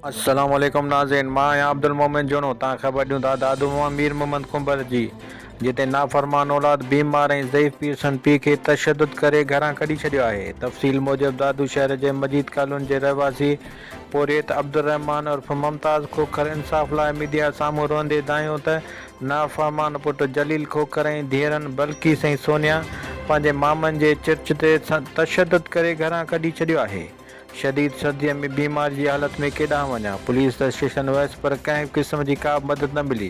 السلام عليڪم ناظرين مان آهيان عبدالمومن جوڻو تان خبر ڏيون ٿا دادو ماما مير محمد ڪنڀر جي جتي نافرمان اولاد بيمار ۽ ضعيف پير سن پي کي تشدد ڪري گهران ڪڍي ڇڏيو آهي تفصيل موجب دادو شهر جي مجيد ڪالوني جي رهواسي پورهيت عبدالرحمان عرف ممتاز کوکر انصاف لاء ميڊيا سامهون روئندي دانهيو ته نافهمان پٽ جليل کوکر ۽ ڌيئرن بلقيس ۽ سونيا پنهنجي مامن جي چرچ تي تشدد ڪري گهران ڪڍي ڇڏيو آهي. شديد سرديء ۾ بيمار جي حالت ۾ ڪيڏانهن وڃان، پوليس ته اسٽيشن ويس پر ڪنهن قسم جي ڪابه مدد نه ملي.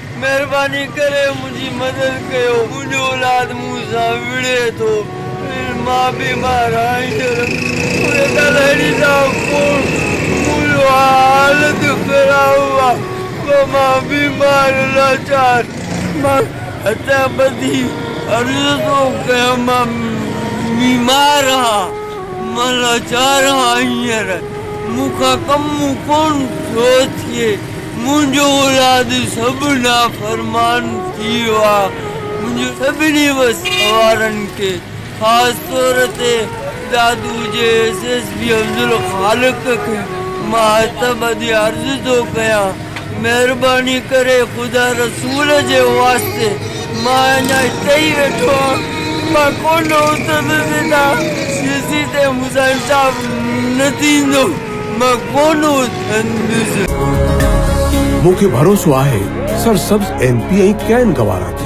مهرباني ڪري منهنجي مدد ڪيو منهنجو اولاد مون سان وڙهي ٿو ۽ مان بيمار آهيان ڊاڪٽر ڪالهاڻي صاحب پوڻ منهنجو حالت خراب آهي پر مان بيمار لاچار مان هٿ ٻڌي عرض ٿو ڪيان مان بيمار آهيان مان لاچار آهيان هينئر مون کان ڪم ڪونه ٿو ٿئي. منهنجو اولاد سڀ نافرمان ٿي ويا. منهنجي سڀني وس وارن کي خاص طور تي دادو جي ايس ايس پي عبدالخالق کي مان هٿ ٻڌي عرض ٿو ڪيان مهرباني ڪري خدا رسول جي واسطي مان اڃا هتي ئي ويٺو آهيان مان ڪونه اٿندس هتان جيسين تائين مون سان انصاف نه ٿيندو. مون کي ڀروسو آهي سرسبز ايم پي ۽ ڪين گوارا تي.